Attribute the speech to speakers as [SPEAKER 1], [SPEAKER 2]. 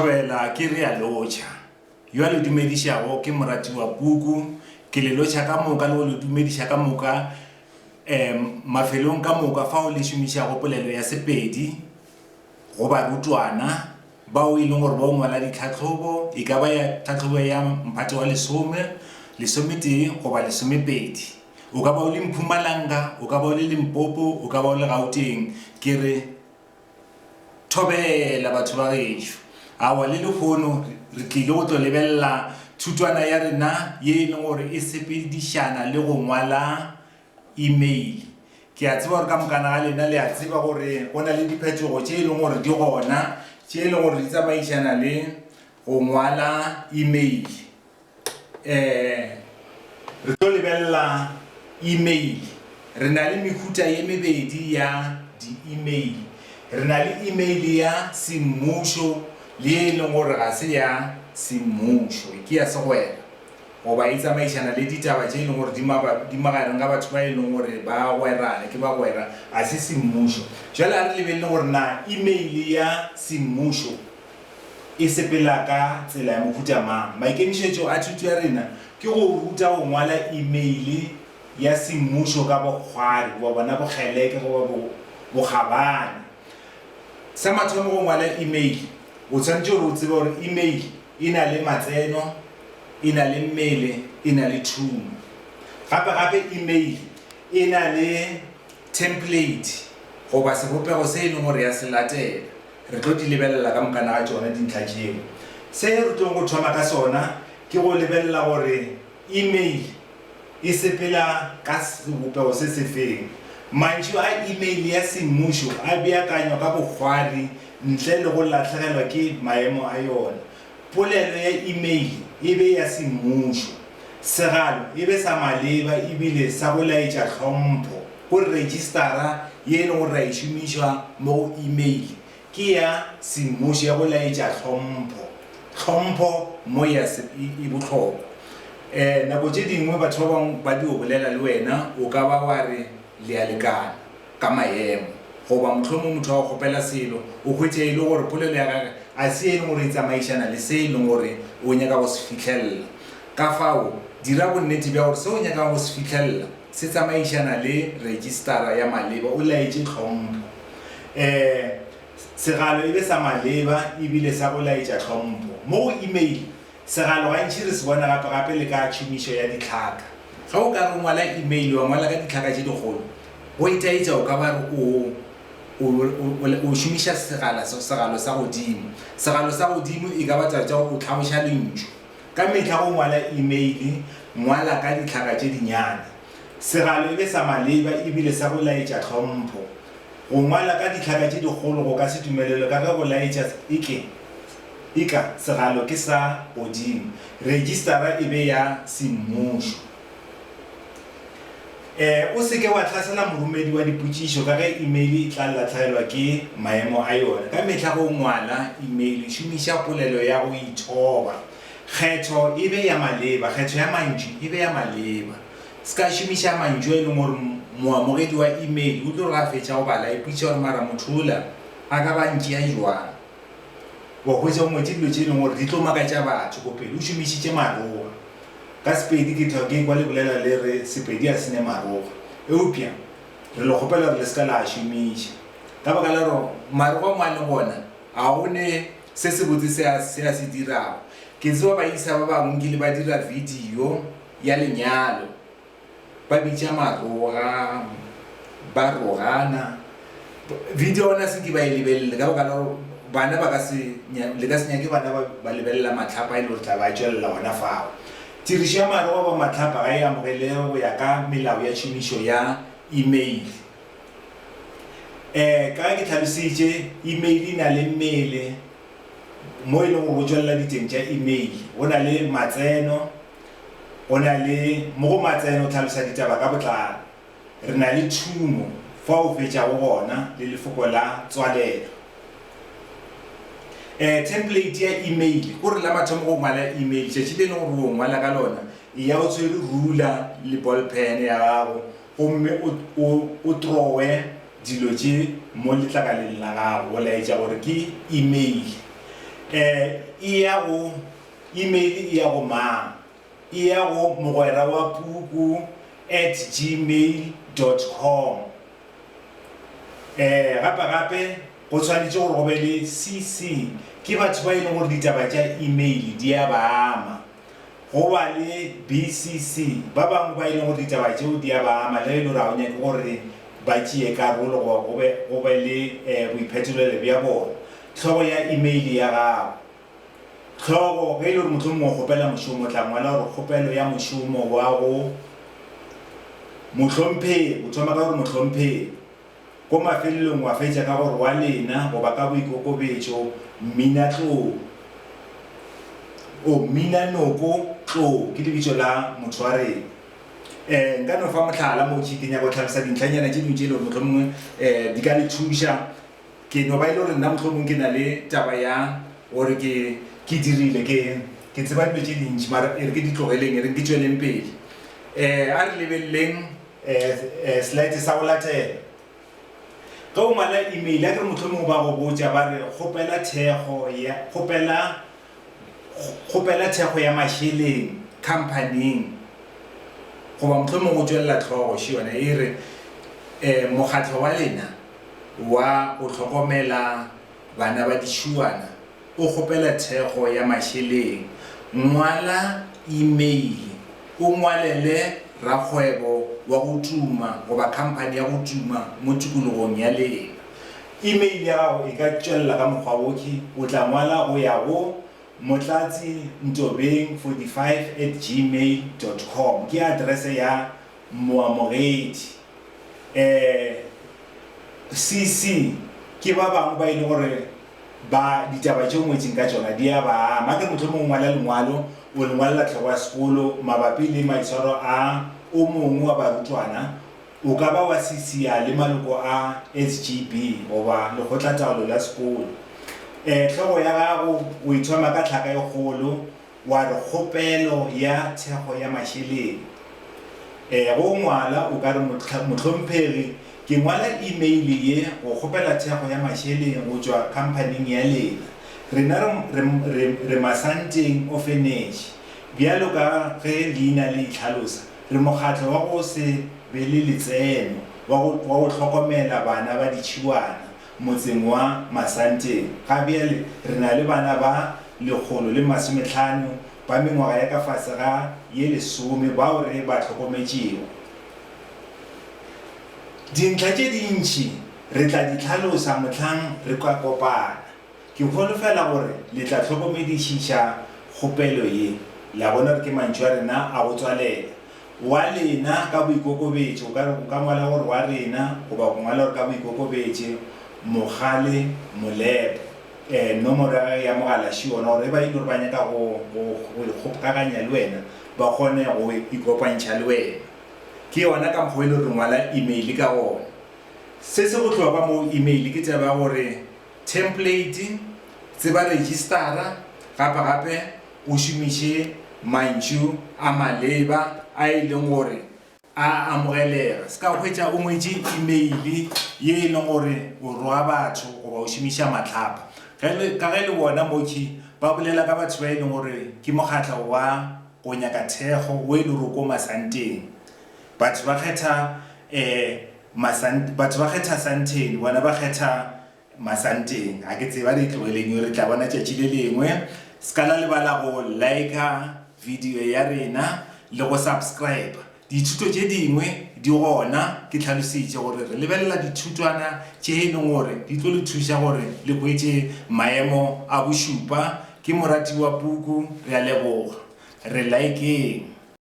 [SPEAKER 1] Thobela ke re a lotšha. Yo a le dumedišago ke moratiwa Puku. Ke le lotšha ka moka le go le dumediša ka moka um mafelong ka moka fao le šomišago polelo ya Sepedi go barutwana bao e leng gore ba o ngwala ditlhahlobo, e ka ba ya tlhahlobo ya mphato wa lesome, lesometee goba lesomepedi. O ka ba o le Mpumalanga, o ka ba o le Limpopo, o ka ba o le Gauteng. Ke re. Thobela, batho ba gešo. Aowa, le lehono re tlile go tlo lebelela thutwana ya rena ye e leng gore e sepedišana le go ngwala email. Ke a tseba gore ka mokana ga lena le a tseba gore go na le diphetogo tše e leng gore di gona, tše e leng gore di tsamaišana le go ngwala email. Eh, re tlo lebelela email. Re na le mehuta ye mebedi ya di-email. Re na le email ya semmušo le ye e leng gore ga se ya semmušo, ke ya segwera goba e tsamaišana le ditaba tše e leng gore di mabapi, di magareng ga batho ba e leng gore ba gwerane, ke bagwera, ga se semmušo. Jwale a re lebelele gore na email ya semmušo e sepela ka tsela ya mohuta mang? Maikemišetšo a thuto ya rena ke go ruta go ngwala imeile ya semmušo ka bokgwari goba bona bokgeleke goba bo, bokgabane. Sa mathomo go ngwala imeile, o tshwanetše gore o tsebe gore imeile e na le matseno, e na le mmele, e na le thumo. Gape-gape imeile e na le template goba sebopego se e leng gore ya se latela. Re tlo di lebelela ka mokana ga tšona dintlha tšeo. Se re tlogo go thoma ka sona ke go lebelela gore email e sepela ka sebopego se sefeng. Mantšu a email ya semmušo a beakanywa ka bokgwari ntle le go lahlegelwa ke maemo a yona. Polelo ya imeile e be ya semmušo. Segalo e be sa maleba e bile sa go laetša tlhompho go Retšistara ye e lego ra e šomišwa mo go imeile ke ya semmušo ya go laetša tlhompho. Tlhompho mo ya se e bohlokwa. E, nako tše dingwe batho ba bangwe ba dio bolela le wena, o ka ba wa re le a lekana. ka maemo. Goba mohlomongwe motho a go kgopela selo, o hwetše e le gore polelo ya gagwe ga se ye e lego gore e tsamaišana le se e lego gore o nyaka go se fihlelela. Ka fao, dira bonnete bja gore se o nyakago go se fihlelela se tsamaišana le rejistara ya maleba, o laetše tlhompho. E, segalo e be sa maleba e bile sa go laetša tlhompho. Mo go imeile, Segalo gantši re se bona gapegape le ka tšhomišo ya ditlhaka. Ge o ka re o ngwala imeile, wa ngwala ka ditlhaka tše dikgolo, go itaetša o ka ba re o, o, o, o, o šomiša segala, segalo sa godimo. Segalo sa godimo e ka ba taba tša gore o tlhaboša lentšu. Ka mehla ge o ngwala imeile, ngwala ka ditlhaka tše dinyane. Segalo e be sa maleba e bile sa go laetša tlhompho. Go ngwala ka ditlhaka tše dikgolo go ka se dumelelwe ka ge go laetša e ke, Eka segalo ke sa godimo. Rejistara e be ya semmušo. E O se ke wa hlasela moromedi wa dipotšišo ka ge imeile e tla latlhegelwa ke maemo a yona. Ka mehla ge o ngwala imeile, šomiša polelo ya go ithoba. Kgetho e be ya maleba, kgetho ya mantšu e be ya maleba. Se ka šomiša mantšu a e leng gore moamogedi wa imeile o tlo re ge a fetša go bala a ipotšiša gore mara motho ola a ka ba a ntšea bjang. Wa hwetša o ngwetše dilo tše e leng gore di tlo makatša batho ko pele, o šomišitše maroga. Ka Sepedi ke thwa ke ekwa le bolela le re Sepedi a se ne maroga, eupša re le kgopela gore le se ka la a šomiša ka baka la gore maroga mo a leng gona ga go ne se sebotse se a se a se dirago. Ke tseba baisa ba bangwe nkile ba dira video ya lenyalo. ba bitša maroga ba rogana video ona se ke ba e lebelele ka baka la gore bana ba ka se le ka se nyake bana ba lebelela matlhapa e le gore tla ba tswelela ona fao tirišo ya maroga ba matlhapa ga e amogelege go ya ka melao ya tšhomišo ya email um ka ke tlhalositše email e na le mmele mo e leng gore go tswelela diteng tša email go na le matseno O na le mo go matseno tlhalosa ditaba ka botlalo. Re na le tšhumo fa o fetšago gona le lefoko la tswalelo. E, thempleiti ya imeile. Ko re la mathomo go ngwala imeile, tšatši le e lego gore o ngwala ka lona, e ya o tshwere rula le ballpen ya gago gomme o, o, o trowe dilo tše mo letlakaleng la gago go laetša gore ke imeile. E, e ya go Email e ya go mang? E ya go mogwerawapuku at gmail dot com. Ee, gape gape go tshwanetše gore go be le CC. Ke batho ba e leng gore ditaba tša email di a ba ama. Go ba le BCC, ba bangwe ba e leng gore ditaba tšeo di a ba ama le ge e le gore ga o nyake gore ba tšee karolo goba go be le boiphetolelo bja bona. Hlogo ya email ya gago. Hlogo, Ge e le gore mohlomongwe o kgopela mošomo, o tla ngwala gore kgopelo ya mošomo wa go mohlomphegi. O thoma ka gore mohlomphegi. Ko mafelelong wa fetša ka gore wa lena goba ka boikokobetšo mminatlou. O mminanoko tlou ke lebitso la motho wa rena. Um nka no fa mohlala mo ke nyaka go tlhalosa dintlhanyana tše dingwe tše e le gore mohlomongwe di ka le thuša. Ke no ba e le gore nna mohlomong ke na le taba ya gore ke, ke dirile, ke, ke tseba dilo tše dintši, mara e re ke di tlogeleng, e reng ke tšweleng pele. Um a re lebeleleng um slide sa go latela. Ge o ngwala email, akere mohlomong ba go botša ba re kgopela thekgo ya, kgopela Kgopela thekgo ya mašeleng khamphaning goba mohlomong o tšwelela hlogo še yona e re, um Mokgatlo wa lena wa go Hlokomela Bana ba Ditšhuwana o kgopela thekgo ya mašeleng. Ngwala imeile o ngwalele rakgwebo wa go tuma goba khamphani ya go tuma mo tikologong ya lena. Email ya gago e ka tšwelela ka mokgwa wo, ke, o tla ngwala go ya go Motlatsi Ntobeng 45 at gmail dot com, ke address ya moamogedi. Eh, CC ke ba bangwe ba e le gore ba, ditaba tše o ngwetseng ka tšona di ya ba ama. Akere mohlomong o ngwala lengwalo, o le ngwalela tlhego ya sekolo mabapi le maitshwaro a o mongwe wa barutwana, O ka ba wa sisiya le maloko a SGB goba Lekgotlataolo la Sekolo. E, hlogo ya gago o e thoma ka tlhaka e kgolo, wa re, Kgopelo ya Thekgo ya Mašeleng. E, go ngwala, o ka re, Mohlomphegi, ke ngwala imeile ye go kgopela thekgo ya mašeleng go tšwa khamphaning ya lena. Rena re, re, re, re Masanteng Ofeneši, bjalo ka ge leina le itlhalosa. Re mokgatlo wa go se be le letseno wa go wa go hlokomela bana ba ditšhibwana motseng wa Masanteng. Ga bjale re na le bana ba lekgolo le masometlhano ba mengwaga ya ka fase ga ye lesome bao re ba hlokometšego. Dintlha tše dintši re tla di hlalosa mohlang re ka kopana. Ke holofela gore le tla hlokomedišiša kgopelo ye, la bona gore ke mantšu a rena a go tswalela. Wa lena ka boikokobetšo, ka re o ka ngwala gore wa rena goba go ngwala gore ka boikokobetše, Mogale Molepo, eh, nomoro ya gage ya mogala ši yona, gore e ba e le gore ba nyaka go, go, go ikgopkaganya le wena, ba kgone go ikopantšha le wena. Ke yona ka mokgwa o e le gore re ngwala email ka gona. Se se bohlokwa mo email ke taba ya gore Thempleiti, Tseba rejistara, gapa gape o šomiše mantšu a maleba a e leng gore a amogelega. Se ka hwetša o ngwetše imeili ye e leng gore o roga batho goba o šomiša mahlapa. Ka ge le bona mokhwi ba bolela ka batho ba e leng gore ke mokgatla wa go nyaka thekgo o e lego ko masanteng, batho ba kgetha Masant, batho ba kgetha Santeni, bona ba kgetha Masanteng. Ga ke tsebe, a re e tlogeleng yo, re tla bona tšatši le lengwe. Se ka la lebala go liker video ya rena le go subscriber. Dithuto tše dingwe di gona, ke tlhalositše gore re lebelela dithutwana tše e leng gore di tlo le thuša gore le hwetše maemo a bošupa. Ke moratiwa Puku, re a leboga. Re likeng.